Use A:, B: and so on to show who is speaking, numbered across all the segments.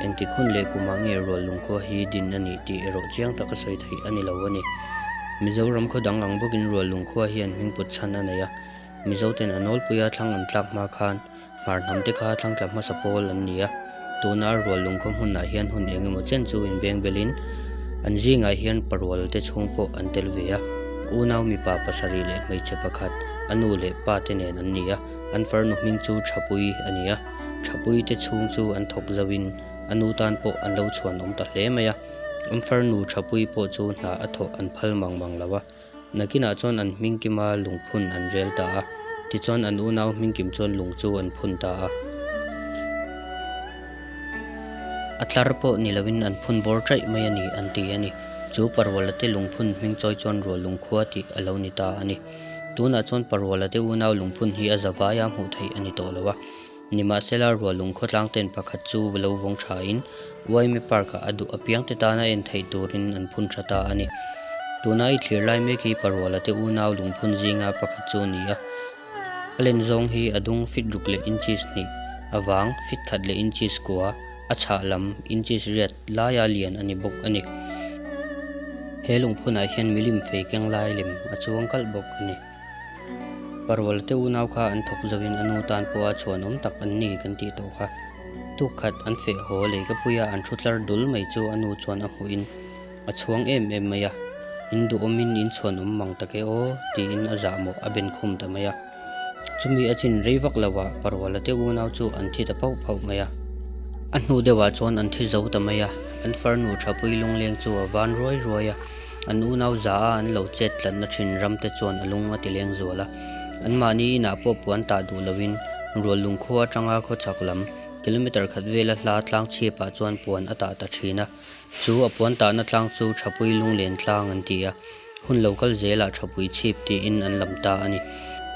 A: Engtik hun leh kumah nge rual lungkhua hi din a nih tih erawh chiang tak a sawi theih a ni lo a ni. Mizoram khaw dang ang bawkin rual lungkhua hian hming put chhan a nei a. Mizoten a nawlpuia thlang an tlak hma khan hmar hnam te kha thlang tla hmasa pawl an ni a. Tuna rual lungkhua hmunah hian hun eng emaw chen chu inveng belin an zingah hian parual te chhung pawh an tel ve a. Unau mipa pasarih leh hmeichhe pakhat a nu leh pa te nen an ni a, an farnu hming chu Thapui a ni a. Tha puite chhung chu an thawk zo in a nu tan pawh an lo chhuan awm ta hle mai a. An far nu Tha pui pawh chu hna a thawh an phal mang mang lo a. Nakin ah chuan an hming kim a lung phun an rel ta a. Tichuan an unau hming kim chuan lung chu an phun ta a. A tlar pawh ni lo in an phun bawr ṭaih mai a ni an ti a ni. Chu Parwala te lung phun hming chawi chuan Rualung khua tih a lo ni ta a ni. Tunah chuan paruala te unau lungphun hi a za vai a hmuh theih a ni tawh lo a. Nimahsela rual lung khawtlang ten pakhat chu lo vawng thain Uaime Park ah a duh apiang te tana en theih turin an phun tha ta a ni. Tuna i thlir lai mek hi paruala te unau lungphun zinga pakhat chu a ni a. A len zawng hi a dung fit ruk leh inches hnih, a vang fit khat leh inches kua, a chhah lam inches riat, laia lian a ni bawk a ni. He lungphunah hian milim fei keng lai lem a chuang kalh bawk a ni. Parualte unau kha an thawk zauhin a nu tan pawha chhuanawm tak an ni kan tih tawh kha. Tukhat an feh haw lei ka puia an thu tlar dul mai chu a nu chuan a hmuhin a chhuang em em mai a, in duhawmin in chhuanawm mang tak e aw tiin a zahmawh a benkhum ta mai a. Chumi a chin rei vak lo a, Parwala te unau chu an thi ta phauh phauh mai a. A hnu deuh ah chuan an thi zo ta mai a, an farnu Thapui Lungleng chu a van ruai ruai a, an unau za a an lo chet tlanna thin ram te chuan a lung a ti leng zual a. An mahni inah pawh puan tah duh lo in, Rual Lungkhu atanga khawchhak lam, kilometre khat vel a hla tlang chhip ah chuan puan a tah ta thin a, Chu a puan tahna tlang chu thapui lunglen tlang an ti a, hun lo kal zelah thapui chhip tiin an lam ta a ni.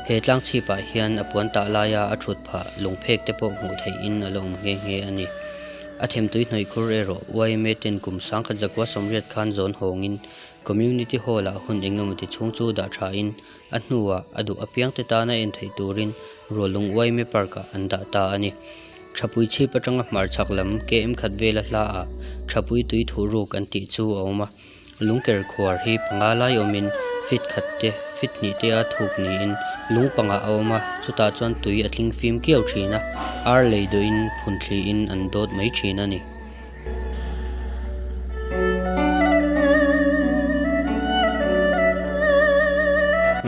A: He tlang chhipah hian a puan tah laia a thut phah lung phek te pawh hmuh theihin a la awm nghe nghe a ni. A themtui hnawihkhur erawh YMA ten kum Sangkhat Zakua Sawmriat khan zawn hawngin Community Hall-ah hun engemaw ti chhung chu dah thain A hnuah a duh apiang te tana en theih turin Rualung Uaime Park-ah an dah ta a ni. Thapui chhip atanga hmarchhak lam KM khat vela hla-ah Thapui tui thuh ruk an tih chu a awm a. Lungker khuar hi panga lai awmin fit khat te, fit hnih te a thuk niin lung pangah a awm a, chutah chuan tui a tling fim kiau thin a, ar lei duhin phun thlihin an dawt mai thin a ni.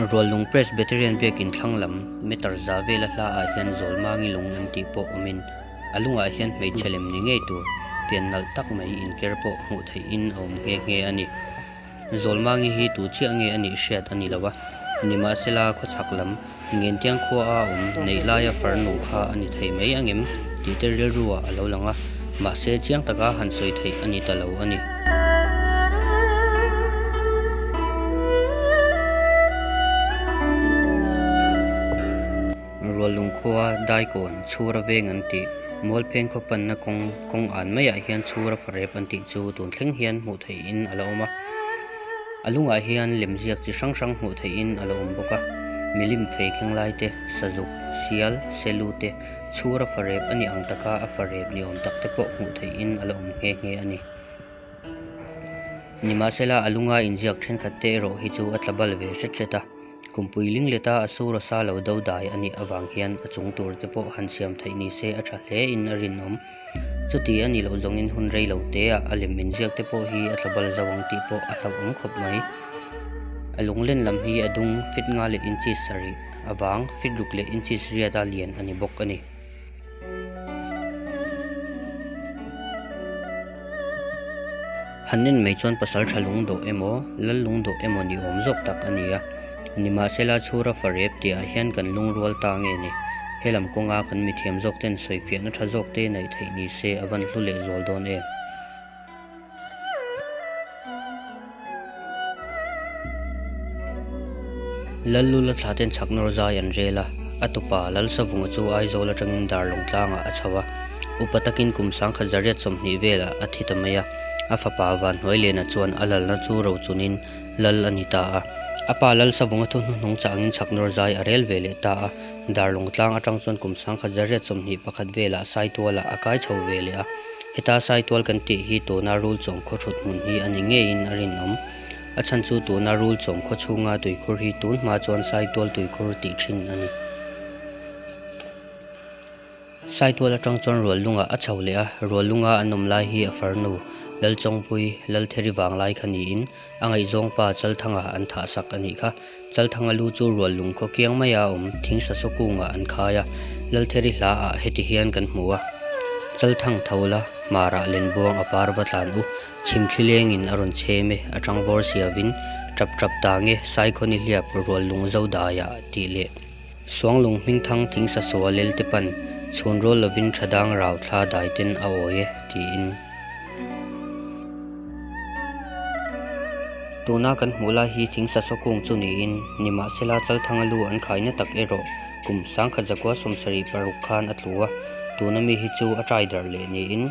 A: Rualnung Presbyterian biakin thlanglam meter za vela hla ah hian Zawlmangi lung an tih pawh awm in, a lung ah hian hmeichhe lem ni ngei tur pian nalh tak mai inker pawh hmuh theih in a awm nghe nghe a ni. Zawlmangi hi tu chiah nge a nih hriat a ni lo a, nimahsela khawchhak lam Ngentiang khua a awm neih laia far nuh kha a ni thei mai ang em? tih te rilruah a lo lang a, mahse chiang taka han sawi theih a ni ta lo a ni. Rualung khua daikawn chhura veng an tih, Mualpheng khaw panna kawng kawng an maiah hian chhura farep an tih chu tun thleng hian hmuh theihin a lo awm a. A lungah hian lem ziak chi hrang hrang hmuh theihin a lo awm bawk a. Milim fei khenglai te, sazuk, sial, selu te, chhura farep a ni ang taka a farep ni awm tak te pawh hmuh theihin a lo awm nghe nghe a ni. Nimahsela a lunga inziak thenkhat te erawh hi chu a tla bal ve hret hret a. Kum puiling leta a sur a sa lo do dai a nih avang hian a chung tur te pawh han siam theih ni se a tha hle in a rinawm. Chuti a nih loh zawng in hun rei lo te ah a lem in ziak te pawh hi a tla bal zo ang tih pawh a hlauh awm khawp mai. A lung len lam hi a dung fit nga leh inchis sarih avang fit ruk leh inchis riat a lian a ni bawk a ni. Han en mai chuan pasal tha lung dawh emaw lal lung dawh emaw ni awm zawk tak a ni a, nimahse la chhur a fa rep tihah hian kan lung rual ta nge ni? Helam kawnga kan mithiam zawk ten sawifiahna tha zawk te naih theih nise a van hlu leh zual dawn em? Lallu la thla ten chhak nawr zai an rel a, a tupa Lalsavunga chu Aizawl atangin Darlawng tlangah a chho a. Upa takin kum sangkhat zariat sawmhnih velah a thi ta mai a. A fapa Vanhnuailenah chuan a lalna chu rochunin Lal a ni ta a. A pa Lalsavunga thuhnu hnung changin chhak nawr zai a rel ve leh ta a. Dar lawngtlang atang chuan kum sangkhat zariat sawmhnih pakhat velah saituala a kai chho ve leh a. Heta saitual kan tih hi tuna rul chawm khaw hrut hmun hi a ni ngeiin a rinawm. A chhan chu tuna rul chawm khaw chhunga tuikhur hi tun hma chuan saitual tuikhur tih thin a ni. Saitual atang chuan Ruallunga a chho leh a, Ruallunga an awm lai hi a farnu Lalchawngpuii, Laltheri vanglai kha niin a ngaihzawngpa Chalthanga an thahsak a nih kha. Chalthanga lu chu Ruallung khaw kiang mai a awm, thing sa sawkungah an khai a, Laltheri hla ah heti hian kan hmu a, Chalthang tho la hmarah lenbuang a par va tlan u, chhim thlileng in a rawn chhem e, a tangvawr siavin, Tap tap ta nge, Saikhaw nihliap Ruallung Zodaiah tih leh. Suanglung hming thang thing sasaw a lel te pan, chhun rawl lovin tha dang rau thla dai ten a awi e, tiin. Tuna kan hmuh lai hi thing sasaw kung chu niin, nimahsela Chalthanga lu an khai natak erawh kum sangkhat zakua sawmsarih paruk khan a tlu a, tuna mi hi chu a taidarh leh niin.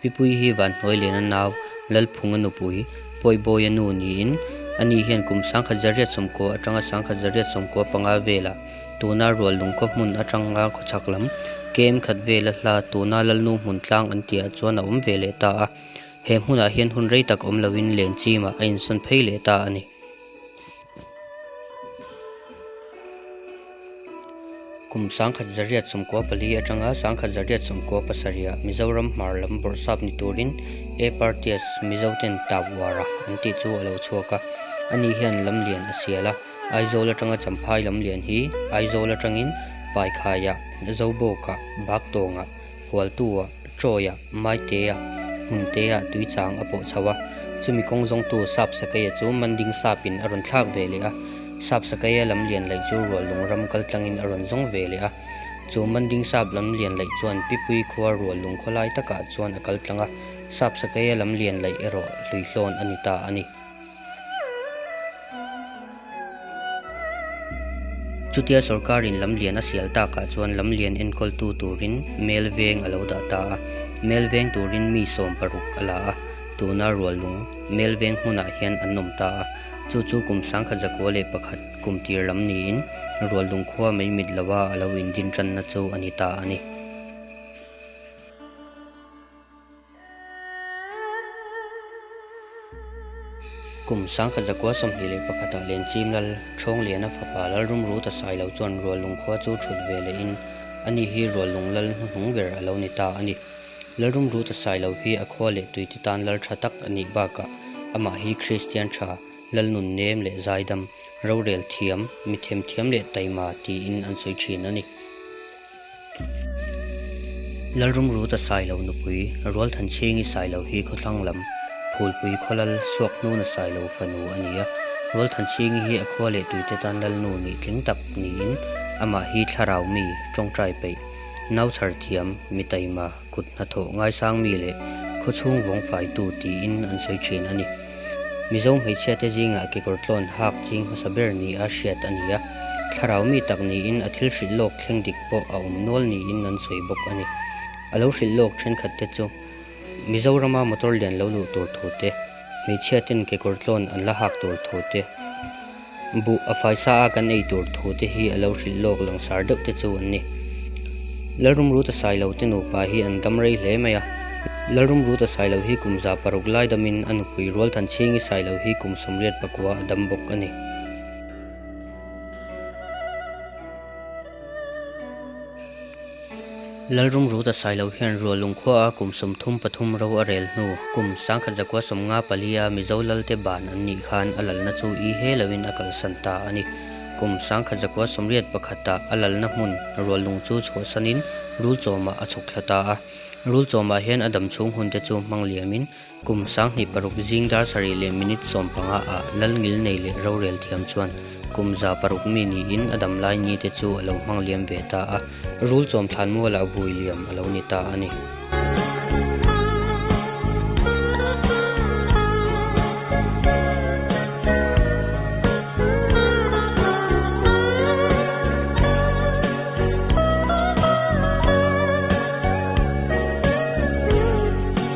A: Pipuii hi Vanhnuailena nau Lalphunga nupui Pawibawiya nu niin a ni hian kum sangkhat zariat sawmkua atanga sangkhat zariat sawmkua panga vela tuna rual lung khua hmun atanga khawchhak lam kem khat vela hla tuna Lalnu hmun tlang an tihah chuan a awm ve leh ta a. He hmunah hian hun rei tak awm lovin len chima a insawn phei leh ta a ni. Kum sangkhat zaria chhumkua pali atanga sangkhat zaria chhumkua pasarih ah Mizoram hmar lam bawrhsap ni turin A party a Mizo ten tap uar a an tih chu a lo chhuak a, a ni hian lamlian a sial a, Aizawl atanga Champhai lamlian hi Aizawl atangin Paikhai ah, Zobawk ah, Baktawng ah, Hualtuah Troy-a Maiteah hmun teah tui chang a pawh chho a, chumi kawng zawngtu Sapsakaya chu Manding Sapin a rawn thlak ve leh a. Sapsakaya lam lian laih chu rual lung ram kal tlangin a rawn zawng ve leh a. Chu Manding Sap lam lian laih chuan Pipui khua rual lung khaw lai takah chuan a kal tlang a. Sapsakaya lam lian laih erawh hluihlawn a ni ta a ni. Chutia sorkarin lamlian a sial tak ah chuan lamlian enkawltu turin mel veng a lo dah ta a, mel veng turin mi sawm paruk a la a, tuna rual lung mel veng hmunah hian an awm ta a, chu chu kum sangkhat zakua leh pakhat kum tir lam niin rual lung khua mai mit loh a a lo in din tanna chu a ni ta a ni. Kum sangkhat zakua sawmhnih leh pakhatah Lenchim lal, Thawnglia-na fapa lal rumru ta sai lo chuan Rual lung khua chu thut ve leh in ani hi Rual lung lal hnuhnung ber a lo ni ta a ni. Lal rumru ta sai lo hi a khua leh tuite tan lal tha tak a nih bakah amah hi Kristian tha, Lalnun nem leh zaidam, rorel thiam, mithem thiam leh taima tiin an sawi thin a ni. Lalrum ruta sailo nupui, Rualthan Chingi sailo hi khawthlang lam Phulpui khawlal Suakhnuna sailo fanu a ni a. Rualthan Chingi hi a khua leh tuite tan Lalnu nih tling tak niin amah hi thlarau mi, tawngtai peih, nauchhar thiam, mitaima, kut hnathawh ngaisang mi leh khawchhung vawng faitu tiin an sawi thin a ni. Mizo hmeichhia te zingah kekawr tlawn hak ching hmasa ber nih a hriat a ni a, thlarau mi tak niin a thil hrilh lawk thleng dik pawh a awm nual niin an sawi bawk a ni. A lo hrilh lawk thenkhat te chu Mizoram a motor lian lo luh tur thu te, Hmeichhia ten kekawr tlawn an la hak tur thu te, buh a fai sa a kan ei tur thu te hi a lo hrilh lawk langsar deuh te chu an ni. Lalrum Ruta Sailo te nupa hi an dam rei hle mai a. Lalrum Ruta Sailo hi kum za paruk lai damin a nupui Rualthan Chhingi Sailo hi kum sawmriat pakua a dam bawk a ni. Lalrum ru ta sai lo hian rual lung khua a kum sawm thum pathum ro a rel hnu, kum sangkhat zakua sawm nga pali a Mizo lalte ban an nih khan a lalna chu i he lo in a kalsan ta a ni. Kum sangkhat zakua sawm riat pakhat ah a lalna hmun rual lung chu chhuahsan in Rulchawm ah a chhawk thla ta a. Rulchawm ah hian a dam chhung hun te chu hmang liam in Kum sanghnih paruk zing dar sarih leh minute sawm panga ah lal ngil nei leh rorel thiam chuan kum za paruk mi niin a dam lai ni te chu a lo hmang liam ve ta a, rul chawm thlan mual ah vui liam a lo ni ta a ni.